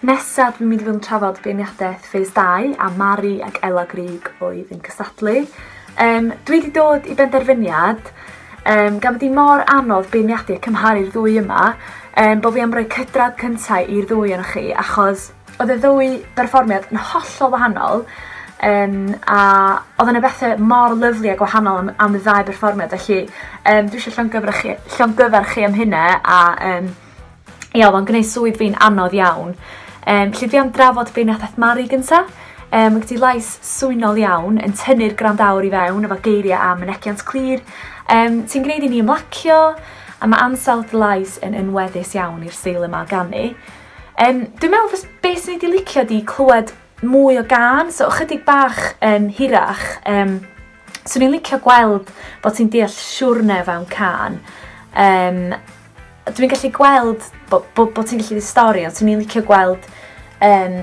Nesa dwi'n mynd i fod yn trafod beirniadaeth Phase 2 a Mari ac Ela Grug oedd yn cystadlu. Um, dwi wedi dod i benderfyniad, um, gan bod hi mor anodd beirniadu a cymharu'r ddwy yma, um, bod fi am roi cydradd cyntaf i'r ddwy o'n chi, achos Odd y ddwy berfformiad yn hollol wahanol yym a odd yna bethe mor lyfli a gwahanol am am y ddau berfformiad felly yym dwi isio llongyfarchi- llongyfarch chi am hynna a yym ia odd o'n gneud swydd fi'n anodd iawn. Yym 'lly dwi am drafod beirniadaeth Mari gynta. Yym ma' gen ti lais swynol iawn yn tynnu'r gwrandawr i fewn efo geiria' a mynegiant clir yym ti'n gneud i ni ymlacio a ma' ansawdd dy lais yn yn weddus iawn i'r steil yma o ganu. Um, dwi'n meddwl fes, beth sy'n wedi licio di clywed mwy o gan, so ychydig bach um, hirach. Um, so ni'n licio gweld bod ti'n deall siwrne fewn can. Um, dwi'n gallu gweld bod bo, bo ti'n gallu di stori, ond swn i'n licio gweld um,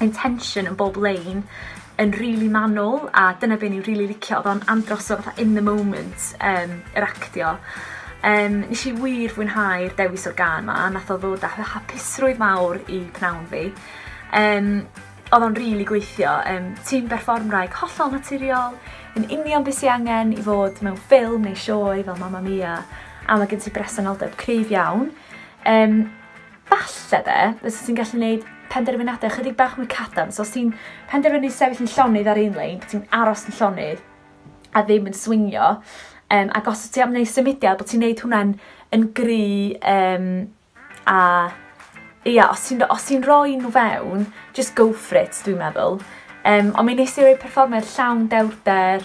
intention yn bob lein yn rili manwl a dyna be' ni rili licio odd o'n andros o fatha in the moment yym yr actio. Yym nes i wir fwynhau'r dewis o'r gân 'ma nath o ddod â hy- hapusrwydd mawr i pnawn fi. Yym odd o'n rili gweithio yym ti'n berfformwraig hollol naturiol yn union be' sy angen i fod mewn ffilm neu sioe fel Mamma Mia a ma' gen ti bresenoldeb cryf iawn. Yym Falle de, fysa ti'n gallu neud penderfynade chydig bach mwy cadarn. So os ti'n penderfynu sefyll yn llonydd ar un lein, bod ti'n aros yn llonydd a ddim yn swingio, um, ac os ti am neud symudiad, bod ti'n neud hwnna'n yn gry um, a ia, os ti'n os ti'n rhoi nhw fewn, just go for it, dwi'n meddwl. Um, ond mi nes i roi perfformiad llawn dewrder,